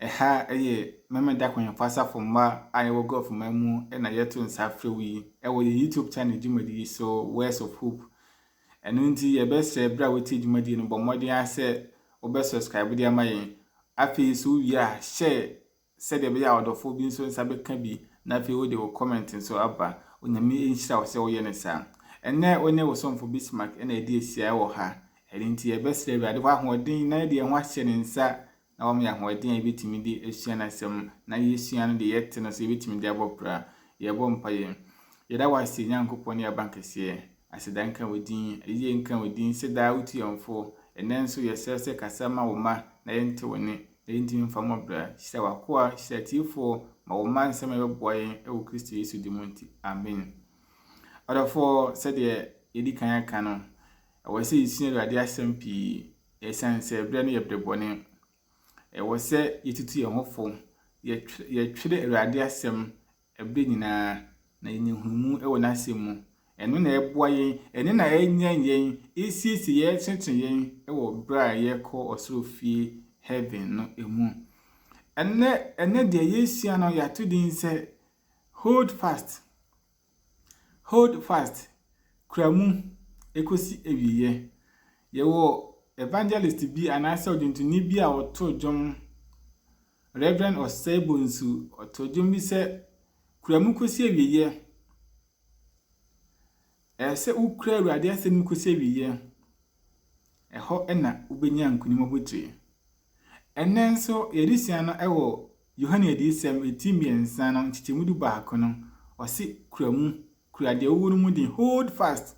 Ɛha yɛ Memeneda Kwenyɛfo Asafo mma a yɛwɔ Gulf man mu na yɛto nsa frɛ wo yi wɔ yɛn YouTube channel dwumadi yi so, Words of Hope. Ɛno nti yɛbɛsrɛ berɛ a wotie dwumadi no bɔ mmɔden ara sɛ wobɛ subscribe de ama yɛn. Afei nso wowie a hyɛ sɛdeɛ ɛbɛyɛ a ɔdɔfoɔ bi nso nsa bɛka bi na afei wode wo comment nso aba. Onyame nhyira wo sɛ woyɛ no saa. Ɛnnɛ wo ne wo somfo Bismarck na ɛdi asia wɔ ha. Ɛno nti yɛbɛsrɛ Awurade hɔ ahoɔden na yɛde yɛn ho ahyɛ ne nsa na wɔn yɛ ahoɔden a yɛbɛtumi de asua n'asɛm na yɛsua no deɛ yɛte no sɛ yɛbɛtumi de abɔ pra. Yɛbɔ mpaeɛ. Yɛda wo ase Nyankopɔn ne abankɛseɛ. Aseda nka wo din. Ayie nka wo din sɛ daa wotu yɛn fo. Ɛnnɛ nso yɛsrɛ sɛ kasa ma wo mma na yɛnte wo nne na yɛntumi mfa mmɔ bra. Hyira w'akoa, hyira atiefoɔ, ma wɔn mma nsɛm a ɛbɛboa yɛn wɔ Kristo Yesu din mu nti. Amen. Ɔdɔfoɔ, sɛdeɛ yɛdi kan aka no, ɛwɔ sɛ yɛsua Awurade asɛm pii Esiane sɛ ɛberɛ no yɛ berɛ bɔne, ɛwɔ sɛ yɛtutu yɛn ho fo, yɛtwerɛ Awurade asɛm ɛberɛ nyinaa, na yɛnya nhunumu wɔ n'asɛm mu. Ɛno na ɛboa yɛn, ɛno na ɛnyɛn yɛn, ɛsiesie yɛn, ɛtenetene yɛn wɔ berɛ a yɛrekɔ ɔsoro fie, heaven, no mu. Ɛnɛ, ɛnɛ deɛ yɛsua no, yɛato din sɛ Hold Fast. Hold fast, kura mu ɛkɔsi awieɛ. Yɛwɔ evangelist bi anaasɛ ɔdwontoni bi a ɔtoo dwom, Rev. Osei Bonsu, ɔtoo dwom bi sɛ, kura mu kɔsi awieɛ. Ɛyɛ sɛ wokura Awurade asɛm mu kɔsi awieɛ. Ɛhɔ na wobɛnya nkonim abotire. Ɛnnɛ nso yɛresua no wɔ Yohane Adiyisɛm ti mmiɛnsa no nkyekyɛmu du baako no, ɔse, Kura mu, kura deɛ wowɔ no mu den, hold fast.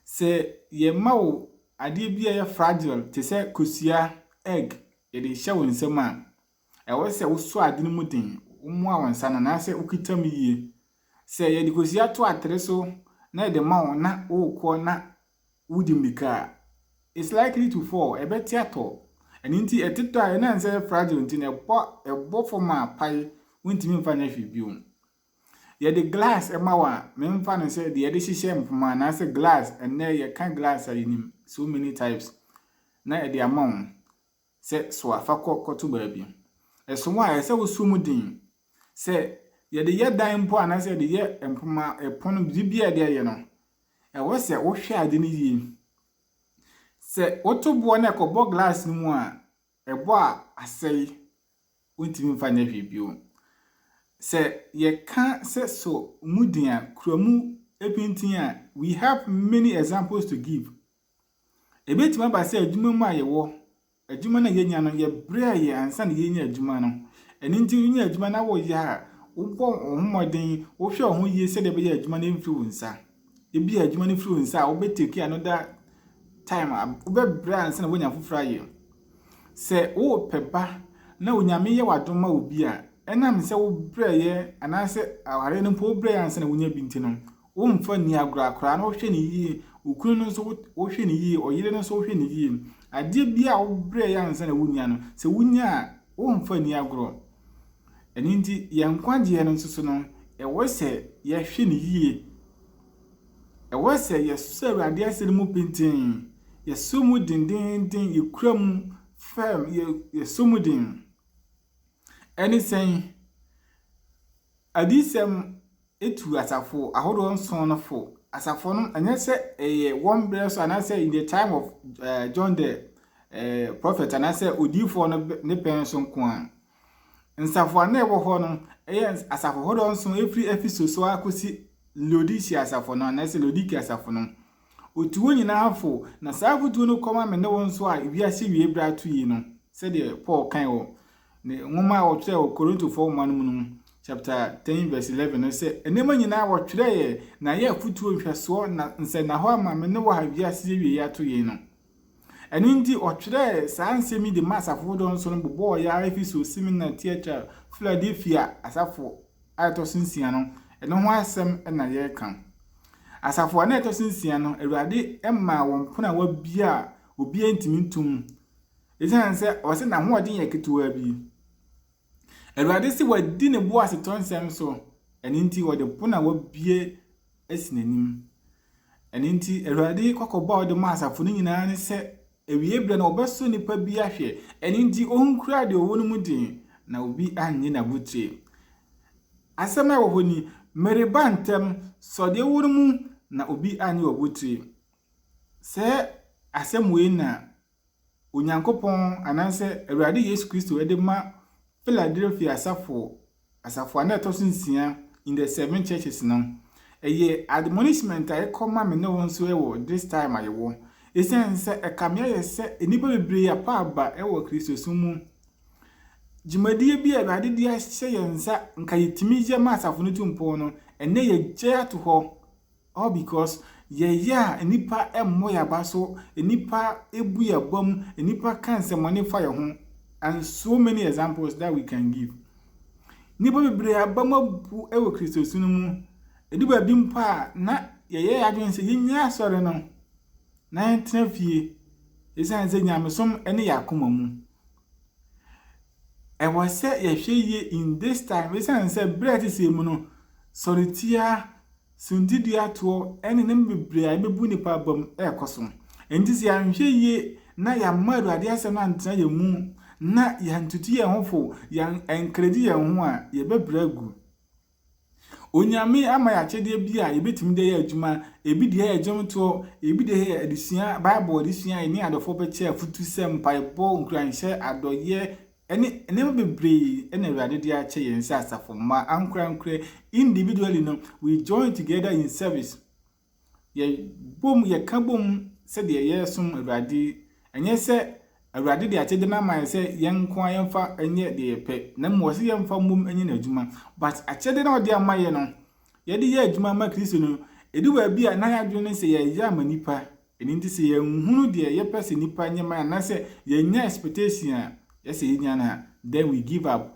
Sɛ yɛma wo adeɛ bi a ɛyɛ fragile te sɛ kosua, egg, yɛde hyɛ wo nsam a, ɛwɔ sɛ wosɔ ade no mu den, womoa wo nsa no anaasɛ wokita mu yie. Sɛ yɛde kosua to atere so na yɛde ma wo na worekɔ na wodi mmirika a, it's likely to fall, ɛbɛte atɔ. Ɛno nti ɛtetɔ a ɛnam sɛ ɛyɛ fragile nti na ɛbɔ ɛbɔ fam a pae wontumi mfa nyɛ hwee bio. Yɛde glass ɛma wo a, memfa no sɛ deɛ yɛde hyehyɛ mpoma anaasɛ glass, ɛnnɛ yɛka glass a yɛnim so many types na ɛde ama wo. sɛ soa fa kɔ kɔto baabi. Ɛsom a ɛyɛ sɛ wosɔ mu den. Sɛ yɛde yɛ dan mpo anaasɛ yɛde yɛ mpoma, ɛpono, biribi a yɛde ayɛ no, ɛwɔ sɛ wohwɛ ade no yie. Sɛ woto boɔ na ɛkɔbɔ glass no mu a, ɛbɔ a asɛe, wontumi mfa nyɛ hwee bio. Sɛ yɛka sɛ sɔ mu den a, kura mu pintinn a, we have many examples to give Ebetumi aba sɛ adwuma mu a yɛwɔ, adwuma no a yenya no, yɛbrɛ yɛ ansa na yɛanya adwuma no. Ɛno nti wunya adwuma na woyɛ a, wobɔ wo ho mmɔden, wohwɛ wo ho yie sɛdeɛ ɛbɛyɛ a adwuma no remfi wo nsa. Ebia adwuma no firi wo nsa a, wobɛtake another time, wobɛbrɛ ansa na woanya afoforɔ ayɛ. Sɛ worepɛ ba na Onyame yɛ w'adom ma wo bi a, ɛnam sɛ wobrɛeɛ anaasɛ aware no mpo wobrɛeɛ ansa na woanya bi nti no, Womfa nni agorɔ akwadaa no wohwɛ no yie, okunu no nso wohwɛ no yie, ɔyere no nso wohwɛ no yie. Adeɛ biara a wobrɛ yɛ ansa na wonya no, sɛ wonya a womfa nni agorɔ. Ɛno nti yɛn nkwagyeɛ no nso so no, ɛwɔ sɛ yɛhwɛ no yie. Ɛwɔ sɛ yɛsɔ Awurade asɛm no mu pintinn, yɛsɔ mu dendeenden, yɛkura mu fɛm, yɛsɔ mu den. Ɛne sɛn? Adiyisɛm tu asafo ahodoɔ nson no fo. Asafo no, ɛnyɛ sɛ ɛyɛ wɔn berɛ so anaasɛ in the time of uh, John the uh, prophet anaasɛ odiyifoɔ no ne pɛn so nko a. Nsafo a na ɛwɔ hɔ no, ɛyɛ asafo ahodoɔ nson ɛfiri Ephesus so akɔsi Laodicea asafo no anaasɛ Laodicea asafo no. Otu wɔn nyinaa fo, na saa afotuo no kɔma me ne wo nso a wiase awiei berɛ ato yi no, sɛdeɛ Paul kae wɔ ne nwoma a ɔtwerɛɛ wɔ Korintofoɔ nwoma no mu no chapter 10 verse 11 no sɛ, Nneɛma nyinaa wɔtwerɛeɛ na ɛyɛ afotuo, nhwɛsoɔ, na nsɛnnahɔ ama me ne wo a wiase awiei ato yei no. Ɛno nti, ɔtwerɛɛ saa nsɛm yi de maa asafo foforɔ nso no bobɔɔ yɛn ara Efeso, Simina, Tiatira, Filadelfia asafo a ɛtɔ so nsia no, ɛno ho asɛm na yɛreka. Asafo a na ɛtɔ so nsia no, Awurade maa wɔn pono a wɔabia a obiara ntumi ntom, ɛsiane sɛ ɔsɛ n'ahoɔden yɛ ketewaa bi. Awurade se wadi ne boasetɔ nsɛm so, ɛno nti ɔde pono a wabue asi n'anim. Ɛno nti Awurade kɔkɔbɔ a ɔde ma asafo no nyinaa ne sɛ, awiei berɛ no wɔbɛsɔ nnipa bi ahwɛ, ɛno nti ɔnkura deɛ ɔwɔ no mu den, na obi annye n'abotire. Asɛm a ɛwɔ hɔ ni, mereba ntɛm, sɔ deɛ ɔwɔ no mu, na obi annye w'abotire. Sɛ asɛm wei na Onyankopɔn anaasɛ Awurade Yesu Kristo de ma Philadelphia asafo, asafo a na ɛtɔ so nsia in the seven churches no. Ɛyɛ admonishment a ɛkɔ ma me ne wo nso wɔ this time a yɛwɔ. Ɛsiane sɛ ɛkame ayɛ sɛ nnipa bebree apa aba wɔ Kristosom mu. Dwumadie bi a Awurade de ahyɛ yɛn nsa nka yɛtumi yɛ ma asafo no tu mpɔn no, ɛnɛ yɛgyae ato hɔ. All because yɛyɛ a nnipa mmɔ yɛn aba so, nnipa bu yɛn abam, nnipa ka nsɛmmɔne fa yɛn ho and so many examples that we can give. Nnipa bebree abam abu wɔ Kristosu no mu. Ɛdu baabi mpo a na yɛyɛ yɛn adwene sɛ yɛnyɛ asɔre no na yɛntena fie ɛsiane sɛ nyamesom ne yɛn akoma mu. Ɛwɔ sɛ yɛhwɛ yie in this time ɛsiane sɛ berɛ a ɛte sɛ mu no sɔretia Suntidua-toɔ ne nneɛma bebree a ɛbɛbu nnipa abam rekɔ so. Enti sɛ yɛanhwɛ yie na yɛamma Awurade Asɛm no antena yɛn mu, na yɛantutu yɛn ho fo, yɛankredi yɛn ho a, yɛbɛbrɛ agu. Onyame ama yɛn akyɛdeɛ bi a yɛbɛtumi de ayɛ adwuma, ebi deɛ yɛ dwomtoɔ, ebi deɛ yɛ adesua, Bible adesua, yɛne adɔfoɔ bɛkyɛ afutusɛm, mpaebɔ, nkuranhyɛ, adɔeɛ, ɛne nneɛma bebree na Awurade de akyɛ yɛn sɛ asafo mma ankorankorɛ. Individually no, we join together in service. Yɛbom, yɛka bom sɛdeɛ yɛresom Awurade. Ɛnyɛ sɛ Awurade de akyɛde no ama yɛn sɛ yɛn nko ara yɛmfa nyɛ deɛ yɛpɛ, na mmom ɔsɛ yɛmfa mmom nyɛ n'adwuma. But akyɛde no a ɔde ama yɛn no, yɛde yɛ adwuma ma Kristo no, ɛdu baabi a na yɛadwene ne sɛ yɛyɛ ama nnipa. Ɛno nti sɛ yɛnhunu deɛ yɛpɛ sɛ nnipa nyɛ ma yɛn anaasɛ yɛnnya expectation a yɛ sɛ yɛnya no a, then we give up.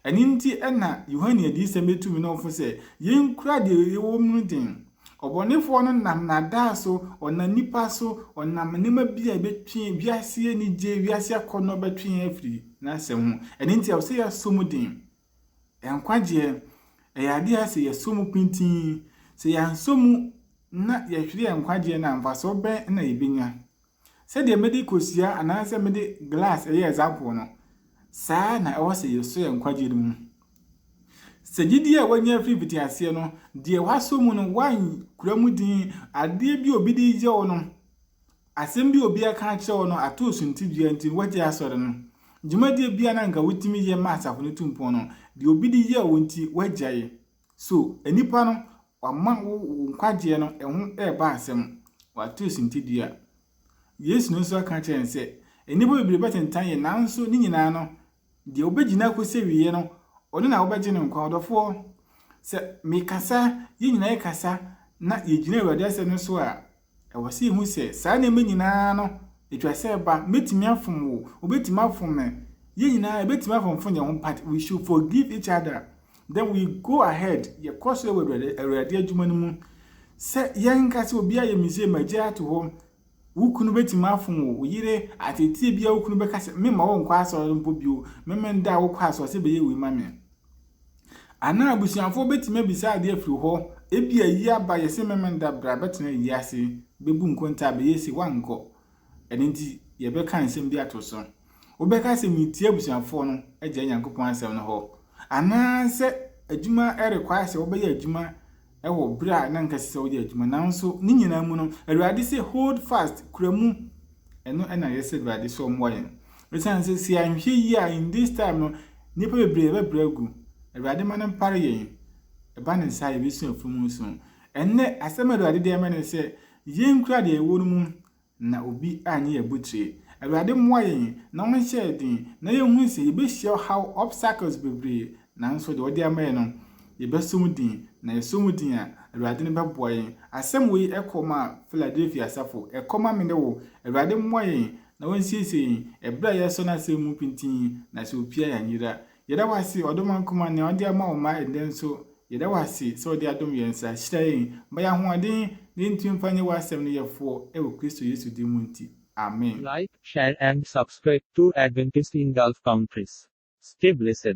Ɛno nti na Yohane adiyisɛm bɛtu me ne wo fo sɛ, yɛnkura deɛ yɛwɔ mu no den. Ɔbɔnefoɔ no nam nnaadaa so, ɔnam nnipa so, ɔnam nneɛma bi a ɛbɛtwe wiase anigyeɛ, wiase akɔnnɔ bɛtwe yɛn afiri n'asɛm ho. Ɛno nti ɛwɔ sɛ yɛsɔ mu den Nkwagyeɛ, ɛyɛ adeɛ a sɛ yɛsɔ mu pintinn. Sɛ yɛansɔ mu na yɛhwere yɛn nkwagyeɛ no a, mfasoɔ bɛn na yɛbɛnya? Sɛdeɛ mede kosua anaasɛ mede glass yɛ example no, saa ara na ɛwɔ sɛ yɛsɔ yɛn nkwagyeɛ no mu. Sɛ gyidie a woanya firi mfitiaseɛ no, deɛ woasɔ mu no, woankura mu dinn, adeɛ bi a obi de reyɛ wo no, Asɛm bi a obi aka akyerɛ wo no ato wo suntidua nti na woagyae asɔre no. Dwumadie bi a na anka wotumi yɛ ma asafo no tu mpɔn no, deɛ obi de yɛɛ wo nti woagyae. So nnipa no, wɔama wo wo nkwagyeɛ no ɛho reba asɛm? Wɔato wo suntidua. Yesu no nso aka akyerɛ yɛn sɛ, Nnipa bebree bɛtentan yɛn, nanso ne nyinaa no, Deɛ ɔbɛgyina akɔsi awieɛ no, ɔno na wɔbɛgye no nkwa. Ɔdɔfoɔ, sɛ mekasa, yɛn nyinaa yɛkasa, na yɛgyina Awurade asɛm no so a, ɛwɔ sɛ yɛhu sɛ saa nneɛma nyinaa no, ɛtwa sɛ ɛba. Mɛtumi afom wo, wobɛtumi afom me, yɛn nyinaa yɛbɛtumi afomfom yɛn ho, but we should forgive each other. Then we go ahead, yɛkɔ so wɔ Awurade adwuma no mu. Sɛ yɛnka sɛ obiara yɛ mistake ma agya ato hɔ, Wo kunu betumi afom wo. Wo yere, atɛɛtiyɛ biara wo kunu bɛka sɛ, Memma wonkɔ asɔre mpo bio, me me da a wokɔ asɔre sɛ bɛyɛ wei ma me. Anaa abusuafoɔ bɛtumi abisa adeɛ afiri hɔ, ebia ayi aba, yɛse me me da, bra bɛtena ayi ase, bɛbu nkontaa, bɛyɛ sei, woankɔ. Ɛno nti, yɛbɛka nsɛm bi ato so. Wobɛka sɛ meretie abusuafoɔ no agyae Nyankopɔn asɛm no hɔ anaa sɛ adwuma require sɛ wobɛyɛ adwuma wɔ berɛ a na nka ɛsɛ sɛ woyɛ adwuma nanso ne nyinaa mu no Awurade sɛ hold fast kura mu ɛno ɛna yɛ sɛ Awurade sɛ ɔmmoa yɛn ɛsiane sɛ sɛ anhwɛ yie a in this time no nnipa bebree ɛbɛbrɛ agu Awurade ma no mpare yɛn ɛba ne nsa a yɛbɛsua firi mu nso ɛnnɛ asɛm a Awurade de ama ne sɛ yɛnkura deɛ ɛwɔ no mu Na obi annye yɛn abotire. Awurade mmoa yɛn na ɔnhyɛ yɛn den na yɛnhunu sɛ yɛbɛhyia ɔhaw, obstacles, bebree nanso deɛ ɔde ama yɛn no, yɛbɛsɔ mu din. Na yɛsɔ mu din a, Awurade no bɛboa yɛn. Asɛm wei kɔ ma Philadelphia asafo, ɛkɔ ma me ne wo. Awurade mmoa yɛn na ɔnsiesie yɛn ɛberɛ a yɛresɔ n'asɛm mu pintinn, na sɛ ɔpia yɛn a, anyera. Yɛda wo ase, Ɔdomma Nkumaa, nea wode ama wo mma ɛnnɛ nso. Yɛda wo ase sɛ wode adom yɛn nsa. Hyira yɛn, ma yɛn ahoɔden, na yɛntumi mfa nyɛ w'asɛm no yɛfoɔ, ɛwɔ Kristo Yesu din mu nti. Amen. Like, share and subscribe to Adventist in Gulf Countries. Stay blessed.